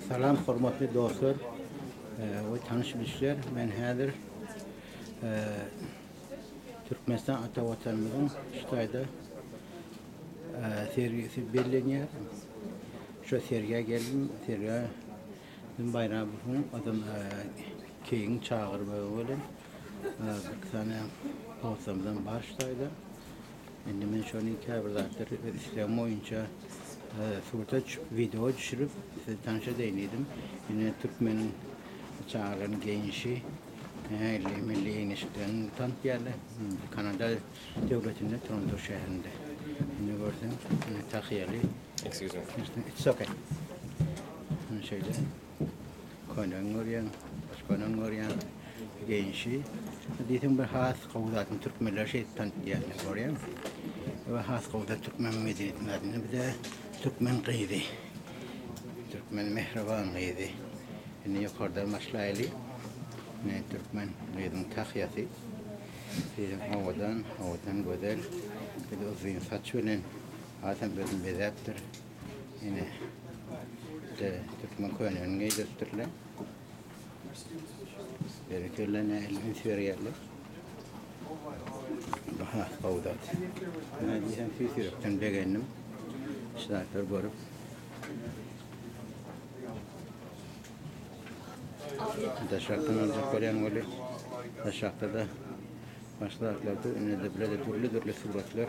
Salam hormatly dostlar we tanyş bilişler. Men häzir Türkmenistan ata watanymyzyň Şitaýda sergisi bellenýär. Şu sergä geldim. Sergä Gün Baýramowyň adam keýigiň çagyrmagy bilen bir sany dostlarymyzdan bar Şitaýda. Indi men şony käbir zatlary öz islegim boýunça surata düşüp, wideoa düşürip, size tanyş edeýin diýdim. Ine, türkmeniň çagalarynyň geýnişi ähli milli geňeşliklerini tanatýarlar. Kanada döwletinde, Toronto şäherinde. Indi görseň, ine, tahýaly. Excuse me. It's okay. Ine şeýle. Könen görýän, has könen görýän genşi. Diýseň bir has gowy zadyny türkmenler şeýdip tanitýarlar, görýäňmi? We has gowy zat türkmen medeniýetiniň adyndan bize türkmen gyzy. Türkmen mähriban gyzy. Indi ýokardan başlaýly. Ne türkmen gyzyň tahýasy. Diýseň owadan, owadan gözel. Bir de uzyn saç bilen. Hasam özüni bezäpdir. Ine. De, türkmen könüni geýdiripdirler. Berekella ne elini süýerýärler. Aha, gowda. Ne diýsem, süýs ýürekden begendim. Şaýatlar görüp. Daşakdan aljak bolýan weli. Daşakda da başlaklarda indi de bile de dürli-dürli suratlar.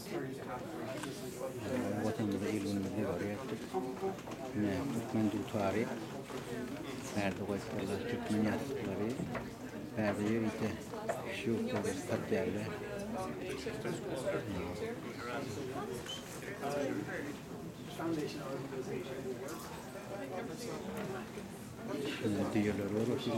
Watanymyza il-günümiz nebare etdik. Ine, türkmen dutary. Bärde goýupdyrlar türkmen ýassyklary. Bärde ýörite şýurtlary satýarlar. Şunda düýeler bar otyr.